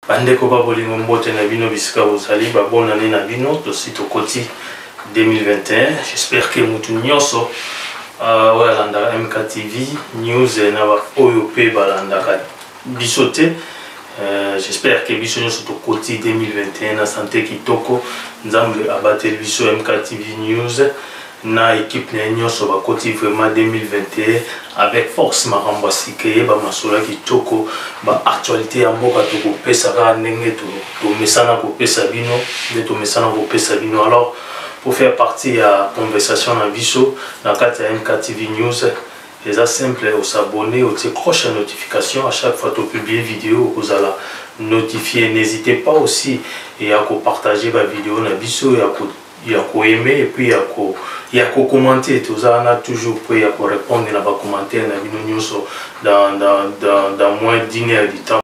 Bandeko ba bolingo mbote na bino bisika bozali ba bonne année na bino tosi tokoti 2021 j'espère que mutu nyonso euh, oyo alandaka mktv news eh, na baoyo mpe balandaka biso te euh, j'espère que biso nyonso tokoti 2021 na sante kitoko nzambe abateli biso mktv news na equipe na ye nyonso bakoti vraiment 2021 avec force makambo asika eyeba masolo ya kitoko baactualité ya mboka tokopesa kaka ndenge tomesana kopesa bino nde tomesana kopesa bino alors pour faire partie ya conversation na biso na kati ya mktv news eza simple osabonne otie croche ya notification à chaque fois topublie video okozala notifie n'hésitez pas aussi ya kopartage bavideo na biso ya ko ya ko aimer et puis ya ko ya ko commenter toza wana toujours mpo ya ko répondre na ba commentaires na bino nyonso dans dans dans dans moins d'une heure du temps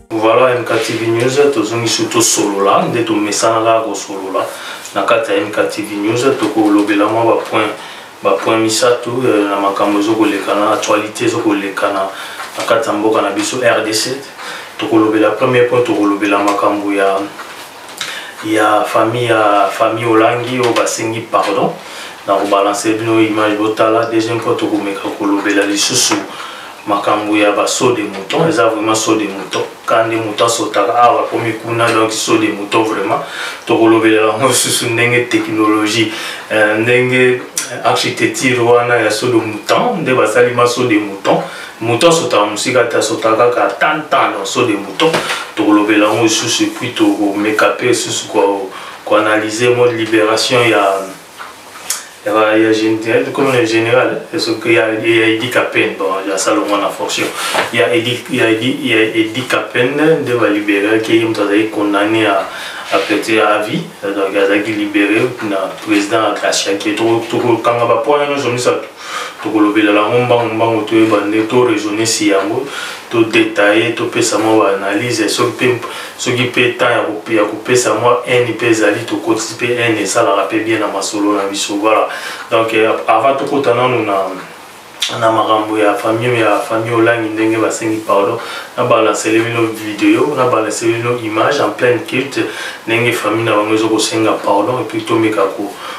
Voilà MKTV News, tozongisi tosolola nde tomesana kaka kosolola na kati ya MKTV News, tokolobela mwa bapoint bapoint misato euh, na makambo ezokoleka na actualité ezokoleka na kati ya mboka na biso RDC. Tokolobela premier point, tokolobela makambo ya ya famille ya famille olangi oyo basengi pardon na kobalanse bino image botala deuxième fois tokomeka kolobela lisusu makambo ya basaut de mouton eza vraiment saut de mouton ka nde moto asotaka awa ah, akomi kuna donc saut de mouton vraiment tokolobela yango lisusu ndenge technologie euh, ndenge architecture wana ya saut de mouton nde basali ma saut de mouton moto asotaka mosika te asotaka kaka tantan lonso de mouton tokolobela yango lisusu epuis tokomeka mpe lisusu koanalyse mo libération ya ya général soki ya edi capen bon asala ngo na fonction ya edi capen nde baliberaki ye moto azalaki condamné à apeti ya avis donc azalaki libéré na président akasiaki tokokanga bapoint nyonso misato tokolobela lango mbangu mbangu toyeba nde to raisonner si yango to detailler topesa mwa ba analyse soki mpe soki mpe temps ya kopesa mwa haine mpe ezali tokotisi mpe haine esalaka mpe bien na masolo na biso voilà donc euh, avant tokota nanu na na makambo ya famille ya famille olangi ndenge basengi pardon na balansele bino video na balansele bino image en pleine culte ndenge famille na bango ezokosenga pardon epuis tomeka ko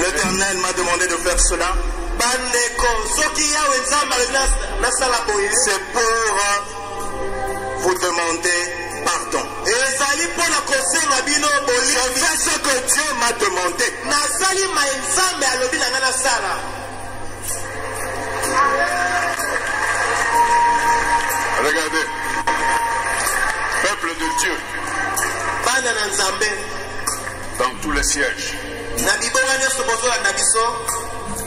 L'Éternel m'a demandé de faire cela. bandeko soki yawe nzambe alobi nasala boye c'est pour euh, vous demander pardon ezali mpo na kosenga bino bolingi ce que dieu m'a demandé nasali mai nzambe alobi na ngai nasala regardez peuple de dieu bana na nzambe dans tous les sièges na bibonga nyonso bozolanda biso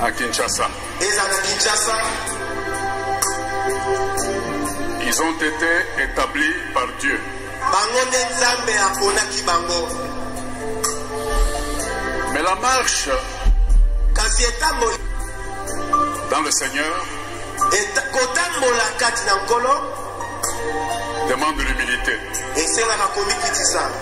à kinshasa ezala na kinshasa ils ont été établis par dieu bango nde nzambe aponaki bango mais la marche kasi etamboli dans le seigneur kotambola kati na nkolo demande l'humilité esengaka komikitisa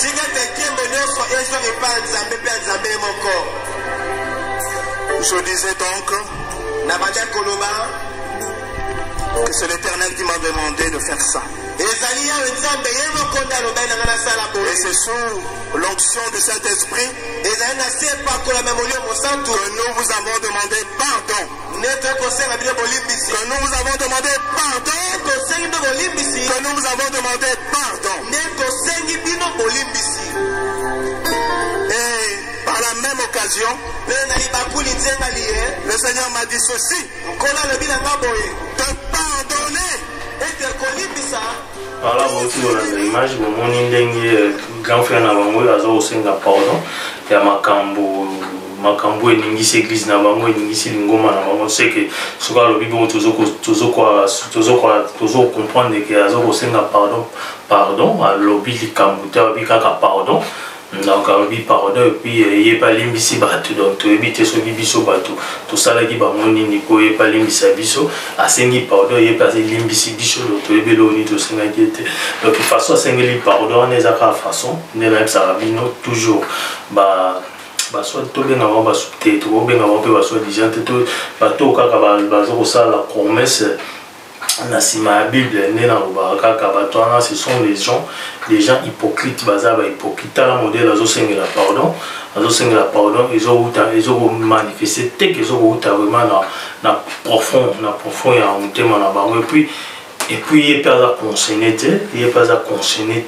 Tika ete nkembo nyonso ezwa epai ya Nzambe mpe ya Nzambe ye moko. Je disais donc, nabandaki koloba que c'est l'Éternel qui m'a demandé de faire ça. ezali yawe nzambe ye moko nde alobaki na ngai nasala boye c'est sous l'onction du saint-esprit ezali na se epakolama molimo mosantu que nous vous avons demandé pardon Nde toye kosenga bino bolimbisi. Que nous vous avons demandé pardon. Nde tosengi bino bolimbisi. Que nous vous avons demandé pardon. Nde tosengi bino bolimbisi. Et par la même occasion, le Seigneur m'a dit ceci. Te pardonner. Et te kolimbisa. wana bauti kolanda image bomoni ndenge grand frère na bango oyo aza kosenga pardon ya makambo makambo oyo eningisi eglise na bango eningisi lingomba na bango seke soki alobi bongo tozocomprendre ke aza kosenga pardon pardon alobi likambo te alobi kaka pardon donc alobi pardon epuis euh, ye balimbisi bato donc toyebi te soki biso bato tosalaki bango nini mpo ye balimbisa biso asengi pardon ye mpe alimbisi biso donc toyebi eloko nini tosengaki ete donc façon asengeli pardon wana eza kaka façon nde nayebisaka bino toujours ba baswa tobenga bango basuki te tokobenga bango mpe baswa dijan te to bato oyo kaka baza kosala promesse na nsima ya bible nde nalobaka kaka bato wana ce sont les gens les gens hypocrite baza bahypocrite tala modele azosengela pardon azosengela pardon ezowuta ezokomanifeste teke ezokowuta vraiment na, na profond na profond ya motema na bango epuis Et puis, il peut pas concerné, il peut pas concerné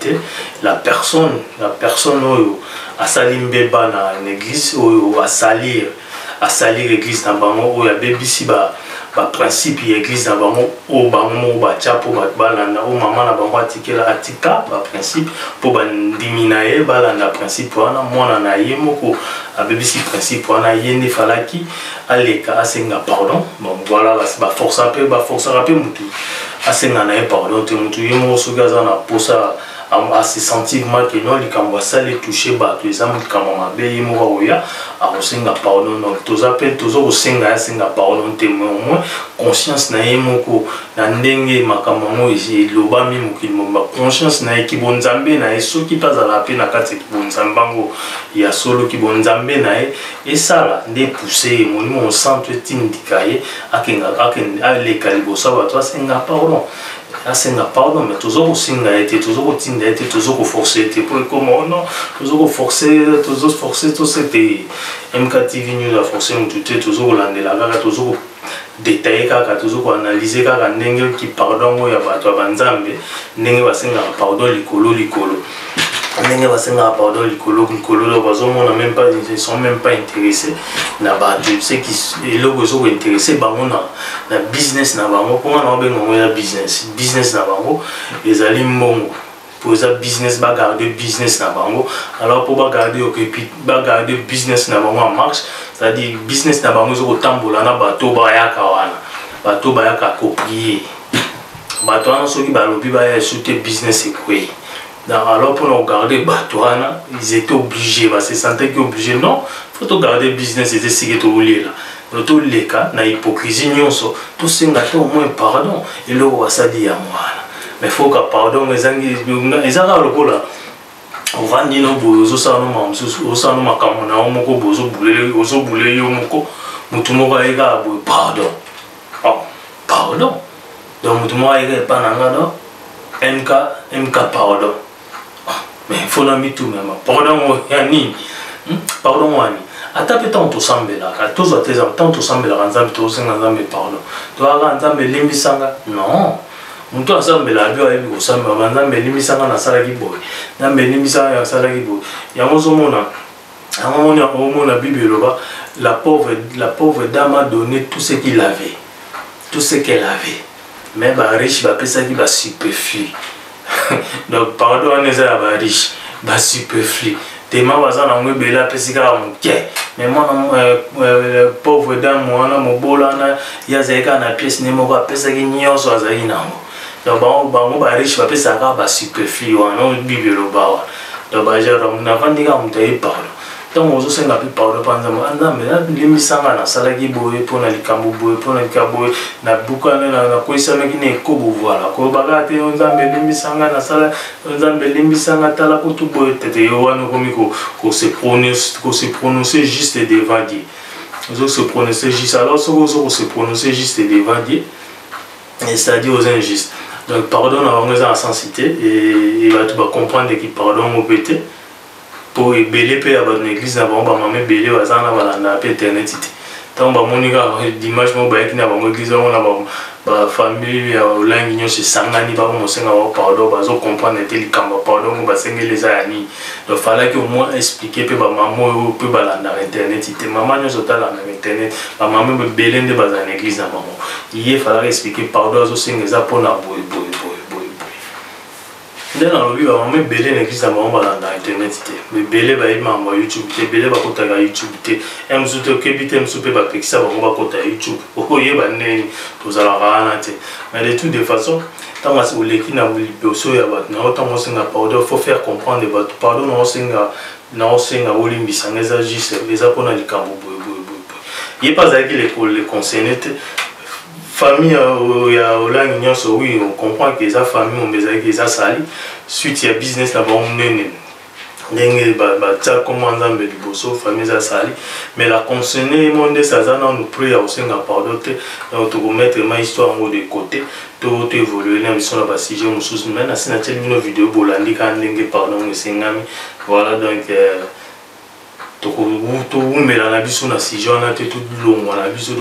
la personne, la personne oyo a sali mbeba na l'église oyo a salir, a salir l'église na bango oyo a bebisi ba ba principe ya église na bango oyo bango moko batya mpo bato balanda oyo mama na bango atikela atika ba principe mpo bandimi na ye balanda principe wana mwana na ye moko abebisi principe wana ye nde falaki aleka asenga pardon donc voilà ba force pe ba force pe mutu asenga na ye pardon te mutu ye moko soki aza na posa a se sentir mal que non likambo asali touche bato eza likambo mabe ye moko akoya akosenga pardon donc toza pe toza kosenga ye asenga pardon te mais au moins conscience na ye moko na ndenge makambo yango elobami mokili mobimba conscience na ye kibonzambe na ye soki mpe azalaka mpe na kati ya kibonzambe yango ya solo kibonzambe na ye esala nde epuse ye molimo mosantu etindika ye aleka liboso ya bato asenga pardon asenga pardon mais tozo kosenga ye te tozo kotinda ye te tozo koforce ye te mpo ekoma ono oh tozo koforce tozo force tose te mktv news aforce motu te tozo kolandela kaka tozo detailler kaka tozo ko analyser kaka ndenge ki pardon ngo ya bato ya banzambe ndenge basengaka pardon likolo likolo ndenge basengaka pardon likolo likolo donc bazomona même pas ils sont même pas intéressés na bato ce qui eloko ezo ko intéresse bango na na business na bango mpo nga na obenga ngo ya business business na bango ezali mbongo po eza business ba garder business na bango alors po ba garder yo et puis ba garder business na bango en marche c'est à dire business na bango ezo kotambola na bato bayaka wana bato bayaka koprier bato wana soki balobi baya esu te business ekwei donc alors mpona kogarde bato wana ils étaient obligé base sentaki obligé non faut togarde business eza esike tokolela Donc toleka na hypocrisie nyonso tosenga te au moins pardon eloko basali yango wana mais foka pardon ezangi eza kaka lokola ovandi no boye ozosala no makambo mosusu ozosala no makambo na yo moko boye ozobule yo moko motu moko aye kaka boye pardon oh, pardon donc motu moko aye kaka epa na nga do mk mk pardon ah, mais il faut na mituna ma pardon ya nini hmm? pardon wani ata mpe ntango tosambelaka tozwa te exemple ntango tosambelaka nzambe tokosenga nzambe pardon toyaka nzambe elimbisanga non moto asambela abi ayebi kosambela banzambe elimbisanga nasalaki boye nzambe elimbisanga nasalaki boye yango ozomona yango omoni omona bible eloba la pauvre, la pauvre dame a donné tout ce qu'il avait tout ce qu'elle avait mais bariche bapesaki basuperflu donc pardon wana eza ya bariche basuperflu tema baza nango ebele apesi kaka moke mais mwana euh, euh, pauvre dame wana mobola wana ye azali kaka na pièce ne moko apesaki nyonso azalaki nango donc bango bango ba riche bapesaka kaka ba superflu wana oyo bible eloba wana donc baja donc navandi kaka moto aye pardon ntango ozosenga mpe pardon mpa nzambe a nzambe nalimbisa nga nasalaki boye mpo na likambo boye mpo na likambo boye nabukana nakwesanaki na ekobo voila koloba kaka te yo nzambe elimbisa nga nasala yo nzambe elimbisa nga tala kutu boye tete yo wana okomi kose prononcer juste devant dieu ozo se prononcer juste alors soki ozo kose prononcer juste devant dieu c'est-à-dire oza injuste donc pardon na bango eza na sensi te e bato bacomprendre eki pardon yango mpe te mpo ebele mpe ya bato na eglise na bango bamama ebele baza na balandaka mpe internet te ntango bamoni kaka dimanche moko bayaki na bango eglise yango na bafamille ya olangi nyonso esangani bango mosenga bango pardon bazocomprendre te likambo ya pardon yango basengeli eza ya nini donc falaki au moins expliquer mpe bamama oyo mpe balandaka internet te mama nyonso talandaka internet bamama ebele nde bazala na eglise na bango ye falaka explike pardon azosenga eza mpo na boye boye boye boye boye nde nalobi bamama ebele na eglise na bango balanda internet te ebele bayebi makambo ya youtube te ebele bakotaka youtube te ya mosusu te okebi te mosusu mpe bapekisa bango bakota youtube oyeba ndeni tozalaka wana te mais de tout de façon ntango asi oleki na liboso ya bato na yo ntango osenga pardon faut faire comprendre bato pardon na osenga Nao senga olimbisa nga eza juste eza pona likambo boye boye boye boye. Ye pe azalaki le ko le concerner te. Famille euh, ya Olangi nyonso oui on comprend que eza famille mombe ezalaki eza sali suite ya business na bango munene ndenge batia nkombo ya nzambe liboso famille eza sali mais la consene ye moko ndesi aza nanu prix ya kosenga pardon te donc tokomettre ma histoire yango de côté to to evolue na biso na ba sujet mosusu mais nasi natieli bino video bolandi kaka ndenge pardon yango esengami voilà donc euh, tokowumela na biso na sujet wana te tolongwa na biso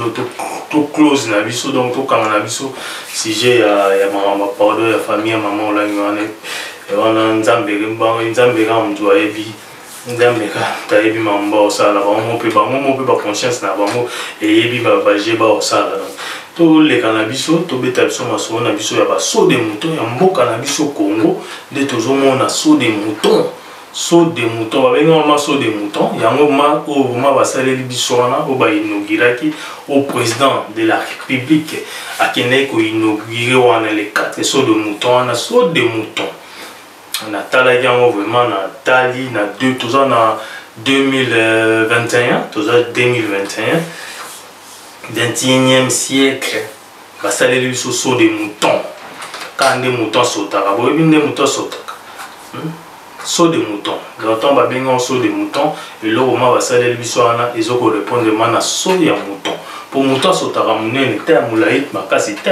to close na biso donc tokanga na biso sujet ya, ya makambo pardon ya famille ya mama olangi wana wana nzambe nzambe kaka moto ayebi nzambe kaka ayebi makambo baosala bango mpe bango mo mpe baconscience na bango eyebi baje baosala donc toleka na biso tobeta biso masolo na biso ya basaut de mouton ya mboka na biso congo nde tozomona saut de mouton saut de mouton babengi yango ma saut de mouton yango ma oyo oh, ma basaleli biso wana oyo bainauguraki au président de la république akendaki koinaugure wana le 4 saut de mouton wana saut de mouton natalaki yango vraiment natali na toza na 2021 toza 2021 21e siècle basaleli biso so de mouton kaka nde mouton asotaka boyebi nde mouton asotaka hmm? so de mouton longtemps babengi yango so de mouton eloko ma basaleli biso wana ezo korepondre ma na so ya mouton mpo mouton asotaka monene te ya molai makasi te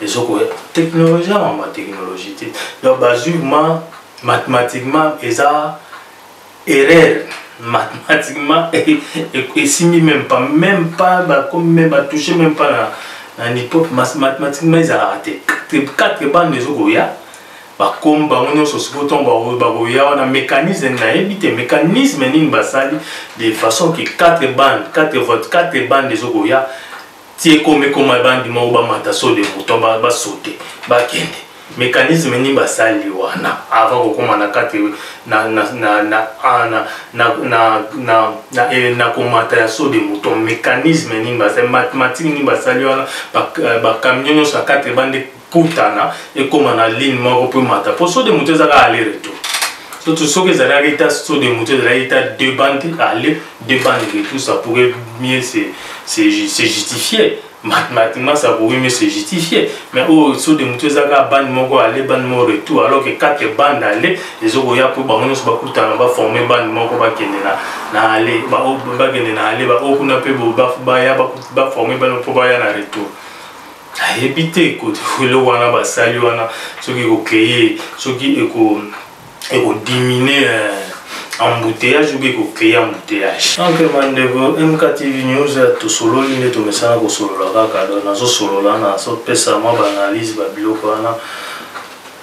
ezokoya technologie ya mama technologie te donc bazwi ma mathematiquement eza erreur mathematiquement esimbi même pas même pas bakomi même batouche même pas na na nipop mathematiquement ezalaka te quatre bande ezokoya bakomi bango nyonso sikoyo ntongo bakoya wana mécanisme nayebi te mécanisme nini basali de façon que quatre bande quatre vote quatre bande ezokoya ti ekoma ekoma ebandi moko bamata so de mouton basote bakende mécanisme nini basali wana avant kokoma na kati na, na, na, na, ah, na, na, na, na, na, eh, na komata ya so de mouton mécanisme nini basali mathématique nini basali wana bakamion eh, nyonso ya kati ebande kutana ekoma na ligne moko mpo emata mpo so de moto ezaka aller retour surtout soki ezalaki ata so de moto ezalaki ata deux bande aller deux bande retour ça pourrait mieux se, se, se justifier mathematiquement ça pourrait mieux se justifier mais oyo oh, so de moto ezaka bande moko aller bande moko retour alors que quatre bande aller ezokoya mpo bango nyonso bakutana baforme bande moko bakende na na aller oh, bakende na aller baoyo oh, kuna mpe baya baforme bande mpo baya na retour ayebi te eloko wana basali wana soki ekocreye soki ekodimine eh, embouteillage obi ekocreye embouteillage donc bandeko mktv news eh, tosololi nde tomesana kosolola kaka do nazosolola nazopesa mwa baanalyse babiloko wana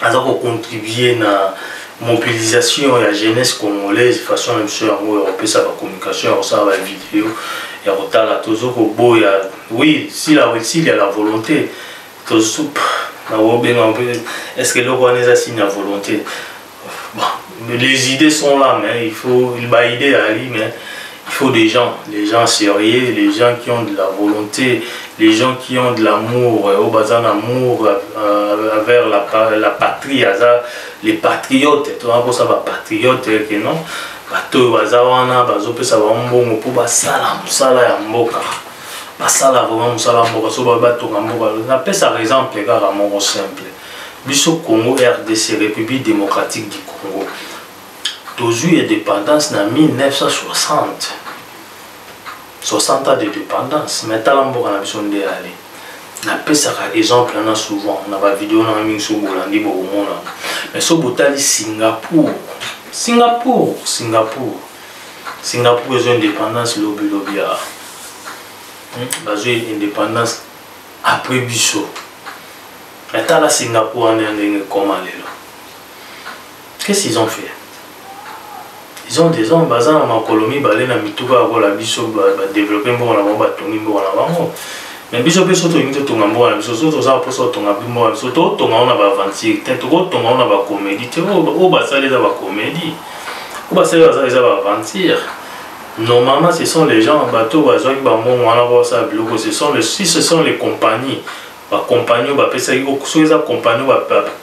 aza ko contribuer na mobilisation ya jeunesse congolaise façon na biso yango ya kopesa ba communication ya kosala ba video ya kotala tozo koboya oui si la s'il y a la volonté tozo nakobenga mpe est ce que eloko wana eza signe ya volonté bon, les idées sont là mais il faut baide ezali mais Il faut des gens, les gens sérieux, les gens qui ont de la volonté, les gens qui ont de l'amour, au euh, bazan amour euh, vers la, la patrie, les patriotes, tu vois, ça va patriote, euh, que non, bato oyo baza wana bazopesa bango mbongo mpo basala mosala ya mboka basala vraiment mosala ya mboka so baoyo batonga mboka napesaka exemple kaka moko simple biso congo rdc république démocratique du congo tozwi indépendance na 1960 60 ans de dépendance mais tala mboka na biso nde ale napesaka exemple wana souvent na bavideo nanga mingi soki bolandi bokomona mais soki botali singapour singapour singapour singapour ezwa indépendance lobilobi ya hmm, bazwi indépendance après biso mais tala singapour wana ya ndenge ekoma lelo Qu'est-ce qu'ils ont fait Ils ont des hommes, baza na makolo mibale na mituka lokola biso badeveloppe mboka na bango batongi mboka na bango mais biso mpe so tolingi totonga mboka na biso so toza mposa kotonga mboka na biso totonga ngo na baaventure te tokotonga ngo na bakomedi te oyo basali eza bakomedi oyo basali baza eza baaventure normalement ce sont les gens bato bazwaki bambongo wana po basala biloko ce sont les, si ce sont les compagnies ba compagnon bapesaki oh, soki eza compagnon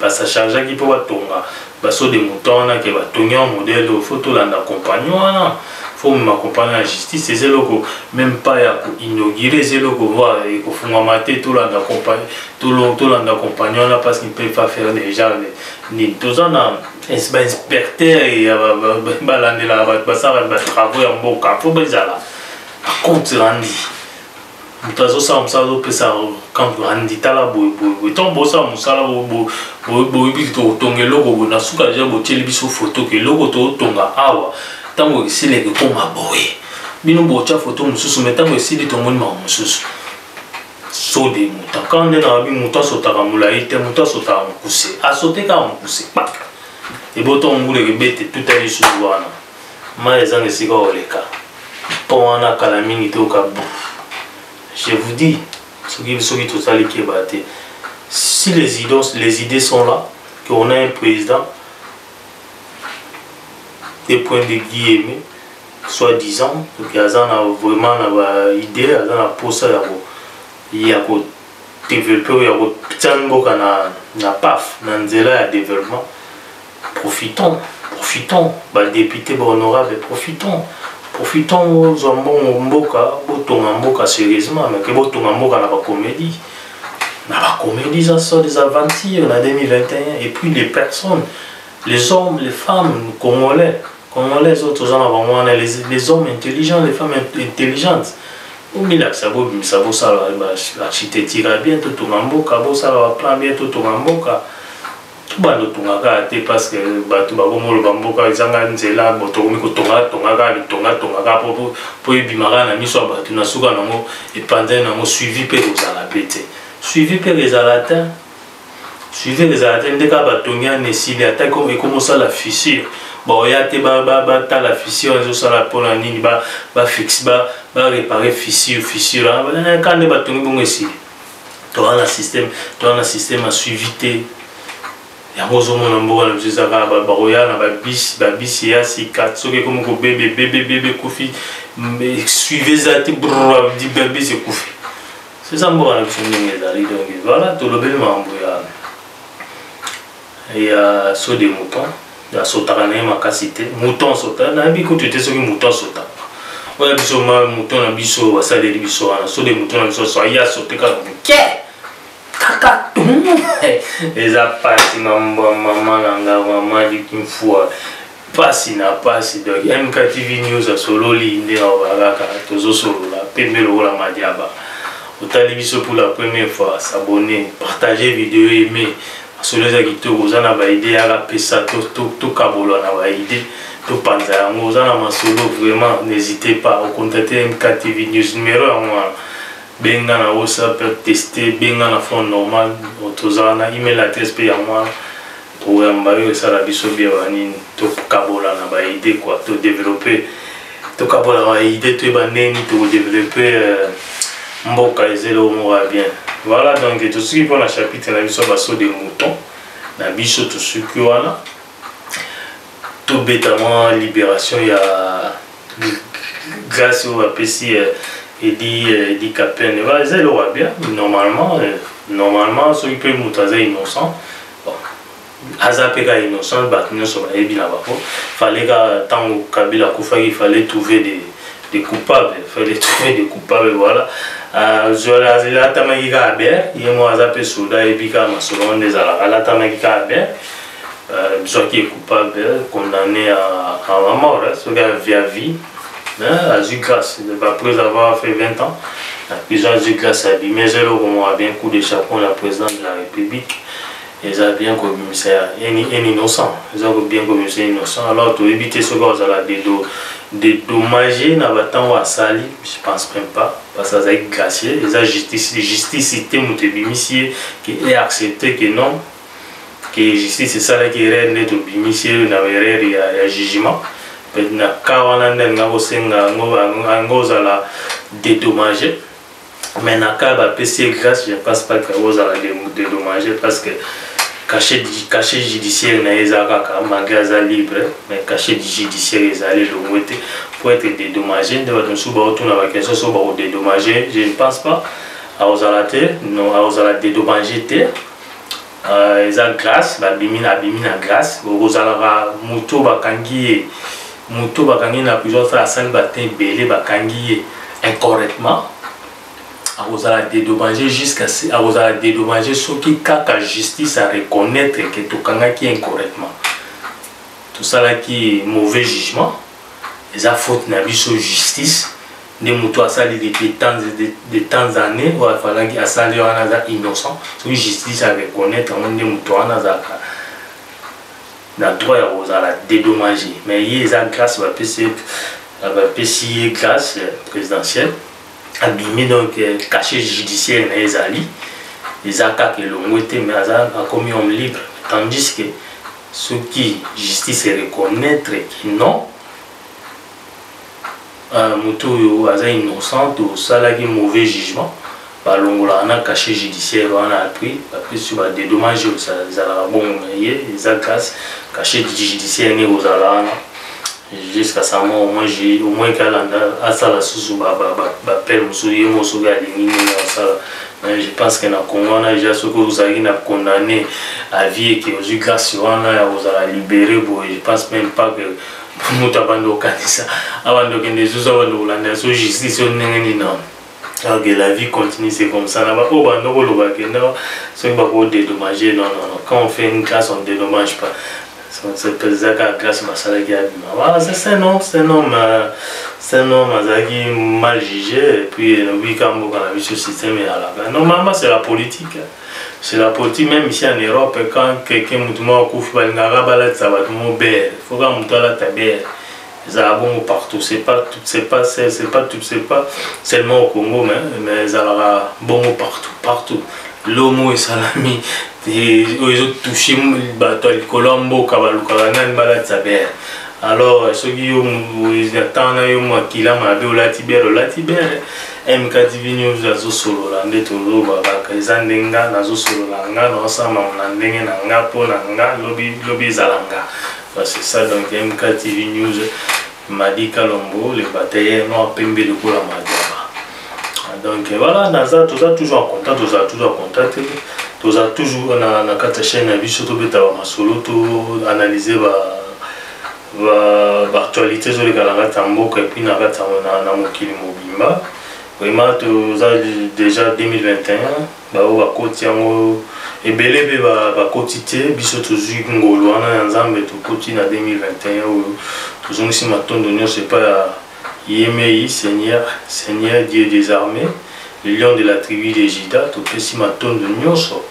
basachargeaki mpo batonga baso de mouton wana ke batongi yango modele oyo fo tolanda compagnon wana fo mema compagnon ya justice eza eloko meme pas ya koinaugure eza eloko voir ekofungwama te tolanda compagnon tolanda compagnon wana parce qu'il peut pas faire des gens nini toza na bainspecteur ya balandelaka bato basalaka batravaux ya mboka mpo bezala bacompte randi moto azosala mosala azopesa kandi tala boye boye boye ntango bosala mosala boyebi tokotonga eloko boye na suka deja botyeli biso foto ke eloko totonga awa ntango esila ekekoma boye bino botya foto mosusu mai ntango esili tomoni mawa mosusu so de moto kaka nde nayebi moto asotaka molai te moto asotaka mokuse asote kaka mokuse kpaka ebotongo ngulu ekebete tuta lisusu wana Mayi ezanga esika oleka. Pont wana kala mingi toyoka bruit. Je vous dis soki soki tosali keba te si les idées, les idées sont là que on a un président de point de vue aimé soit disant que aza na vraiment na ba idée aza na posa ya ko ya ko développer ya ko tia mboka na na paf na nzela ya développement profitons profitons ba députés ba honorables profitons profitons bozwa mbongo mboka botonga mboka sérieusement mais ke botonga mboka na bacomédie na bacomédie eza so des aventures na 2021 et puis les personnes les hommes les femmes congolais congolais oyo toza na bango wana les hommes intelligents les femmes intelligentes bomilakisa bobimisa bosala architecture bien totonga mboka bosala baplan bien totonga mboka bando tonga kaka te parce que bato bakomi oloba mboka ezanga nzela bo tokomi kotonga tonga kaka bitonga tonga kaka po po ebima kaka na miso ya bato na suka nango epanzani nango suivi mpe ekozala mpe te suivi mpe ezala te suivi ezala te nde kaka batongi ana esili ata ekomosala fissure baoya te batala fissure ezosala mpona nini bafixe barepare fissure fissure ah, eh, kaka nde batongi bongo esili toza na système toza na système ya suivi te yango ozomona mboka na biso eza kaka bakoya na babisi babisi ya sika soki ekomi kobebe bebebebe ekufi suivi eza te babisi ekufi eza mboka na biso ndenge ezali donc voilà tolobeli makambo ya ya saut de mouton asotaka na ye makasi te mouton asota nayebi kutu te soki mouton asotaka oya biso ma mouton na biso basaleli biso wana saut de mouton na biso so aye asote kaka moke kaka eza pasi mambwa mama na nga mama likinfua pasi na pasi donc mktv news asololi nde naoba kaka tozosolola pembe lokola madiaba otali biso pour la première fois s'abonner partager video aime masolo eza kitoko oza na baide yaka pesa tokabolwa na baide topanza yango oza na masolo vraiment n'hésitez pas ocontacte mktv news numero yango wana benga na whatsapp teste benga na phone normal toza na email adresse mpe yango wana Programme ba yo esala biso bien ba nini to kabola na ba idée quoi to développer to kabola ba idée to ba nini to développer euh, mboka ezelo moko ya bien. Voilà donc tout ce qui pour la chapitre na biso ba saut de mouton na biso tout ce qui wana tout bêtement libération ya grâce au APC euh, et dit euh, dit Captain. Voilà, c'est le bien normalement euh, normalement ceux qui peuvent nous innocent aza mpe ka innocent bato nyonso bayebi na bango fale ka ntango kabila akufaki fale trouver des des coupables fale trouver des coupables voilà azwala euh, alatamaki kaka bien ye moko aza mpe soda ayebi kaka masolo wana nde ezalaka alatamaki kaka bien euh, soit qui est coupable condamné à, à la mort soki à vie à vie Hein, azwi grâce après avoir fait 20 ans na prison azwi grâce abimi eza eloko moko bien coup de chapeau na président de la république eza bien kobimisa ya un innocent eza bien kobimisa innocent alors toyebi te soki azala dédommage na bantango asali je pense même pas parce azalaki gracier eza justice justice te moto ebimisi ye ke e accepte ke non que justice esalaki erreur nde tobimisi ye na erreur ya, ya jugement mpe na cas wana nde alinga kosenga yango yango ozala dédommage mais na cas bapesi ye grâce je pense pas que ozala dédommage parce que cachet cachet judiciaire na ye eza kaka malgré aza libre mais cachet judiciaire ezali elongo te po ete dédommage nde bato mosusu baotuna baquestion so bakodédommage je ne pense pas akozala te non akozala dédommage te euh, eza glace babimi na abimi na glace okozalaka moto bakangi ye moto bakangi na prison fala asali batin ebele bakangi ye incorrectement akozala dédommagé jusqu'à akozala dédommagé soki kaka justice a reconnaître que tokangaki incorrectement tosalaki mauvais jugement eza faute na biso justice nde moto asali depuis temps de temps année oyo afalaki asali wana aza innocent soki justice a reconnaître yango nde moto wana azalaka na droit ya kozala dédommage mais ye eza grâce bapesi bapesi ye grâce présidentielle abimi donc euh, cachet judiciaire na ye ezali eza kaka elongwe te mais aza akomi homme libre tandis que soki justice ereconnaitre que non Euh, moto oyo aza innocent tosalaki mauvais jugement balongolaka na cachet judiciaire wana apres bapesi ba dédommage oyo ezalaka bongo na ye eza grâce cachet judiciaire nde kozala wana jusqu'à sa mort omoi omoi ke alanda asala susu bapele mosusu ye moko soki alingi nini asala mais je pense que na congo wana ja soki ozalaki na condamné à vie eke ozwi grâce wana ya kozala libéré boye je pense même pas que moto abandi kokanisa abandi kokende ezuzu abandi kolanda so justice oyo ndenge nini nao alors que la vie continue c'est comme ça na baoyo bando koloba kende soki bakodedommage non non non quand on fait une classe on dédommage pas eza kaka classe basalaki abima voilà c'est un homme c'est un homme c'est un homme azalaki mal jugé et puis lobi ka mboka na biso système eyalaka normalement c'est la politique hein. C'est la politique même ici en Europe quand quelqu'un mutu moko akufi balingaka balatisa bato moko bere faut kaka moto alata bere ezalaka bongo partout c'est pas tout c'est pas c'est pas tout c'est pas seulement au Congo mais mais ezalaka bongo partout partout lomo esalami oyo ezotouche bato ya likolo ya mboka balukaka nani balatisa bere alors soki yo na ntango na yo makila mabe olati bere olati bere MKTV News azosolola nde toloba kaka eza nde nga nazosolola nga naosala makambo na ndenge na nga mpo na nga lobi lobi ezala nga c'est ça donc MKTV News Madi Kalombo le batailleur noir pembe lokola madama donc voilà naza toza toujours en contact toza toujours en contact toza toujours na, na kati ya chaîne na biso tobeta ba masolo to analyse ba baactualité ezoleka na kati ya mboka epuis na kati na mokili mobimba vraiment toza déjà 2021 baoyo bakoti yango ebele mpe bakoti te biso tozwi ngolu wana ya nzambe tokoti na 2021 oyo tozongisi matondo nyonso epai ya Yemei Seigneur, Seigneur Dieu des armées, le lion de la tribu de Juda, topesi matondo nyonso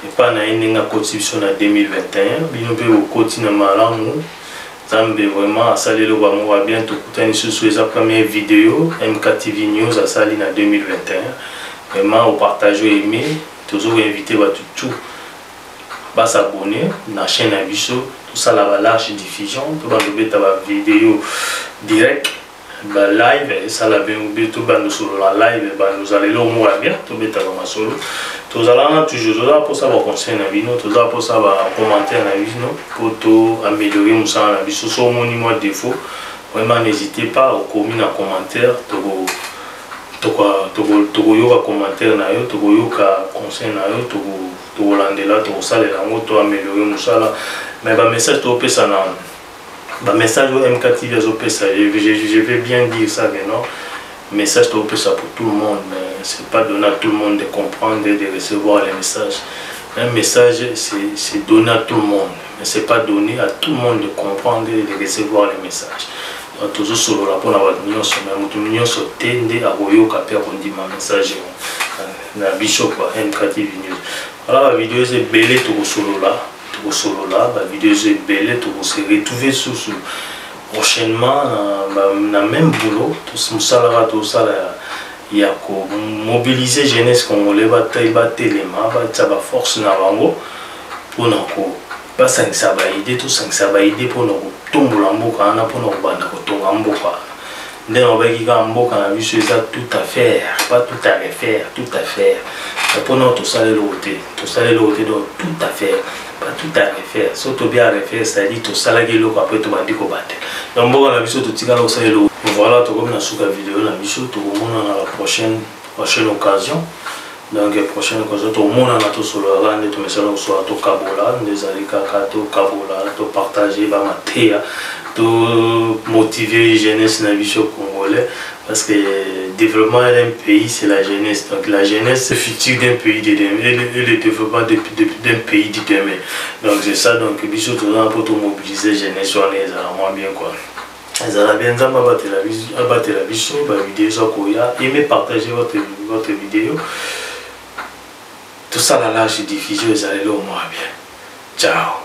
epai na ye ndenge akotisi biso na 2021 bino mpe bokoti na malamu nzambe vraiment asali eloko yango wa bien tokutani lisusu eza première video mktv news asali na 2021 vraiment opartage oyo aime tozo koinvite bato tout ba s'abonner na chaîne na biso tosala ba large diffusion to bando beta ba video direct ba live esala bien be to bando solo la live ba nous allons lo mo bien to beta ba masolo tozala na toujours toza posa ba conseil na bino toza posa ba commentaire na bino po to améliorer musala na biso so moni moi défaut vraiment n'hésitez pas okomi na commentaire toko tokoyoka commentaire na yo tokoyoka conseil na yo tokolandela tokosalela yango to ameliore mosala mais bamessage topesa na bamessage oyo mk tv azopesa ye je vais bien dire ça que non message topesa pour tout le monde mais c'est pas donné à tout le monde de comprendre et de recevoir les messages un message c'est donné à tout le monde mais c'est pas donné à tout le monde de comprendre et de recevoir les messages Tozo solola mpo na bato nyonso, mais moto nyonso te nde akoyoka mpe akondima message yango. Na biso kwa MKTV News. Wana ba videos ebele tokosolola, tokosolola ba videos ebele tokose retrouver susu prochainement na, na même boulot mosalaka tosala ya ya komobilize jeunesse congolais batelema batya baforce na bango mpo na ko basangisa ba idée tosangisa ba idée mpo na kotombola mboka wana mpo na kobanda kotonga mboka wana nde nalobaki kaka mboka na biso eza tout à faire pas tout à refaire tout à faire mpo nao tosala eloko te tosala eloko te donc tout à faire pas tout à refaire so tobi à refaire c'est-à-dire tosalaki eloko apres tobandi kobatela donc mboka na biso totikala kosala eloko voilà tokomi na suka video na biso tokomonana la prochaine prochaine occasion donc prochaine kozo tomonana tosololaka nde tomesana kosolola tokabola nde ezali kaka tokabola topartage bamateya tomotive jeunesse na biso congolais parce que développement d'un pays c'est la jeunesse donc la jeunesse c'est futur d'un pays de demain et le, et le développement d'un pays de demain donc c'est ça donc biso tozana mpo tomobiliser jeunesse wana ezala mwa bien quoi ezala bien nzambe abatela biso bavideo eza koya eme partage votre, votre video tosala large diffusion ezala eloko mwa bien ciao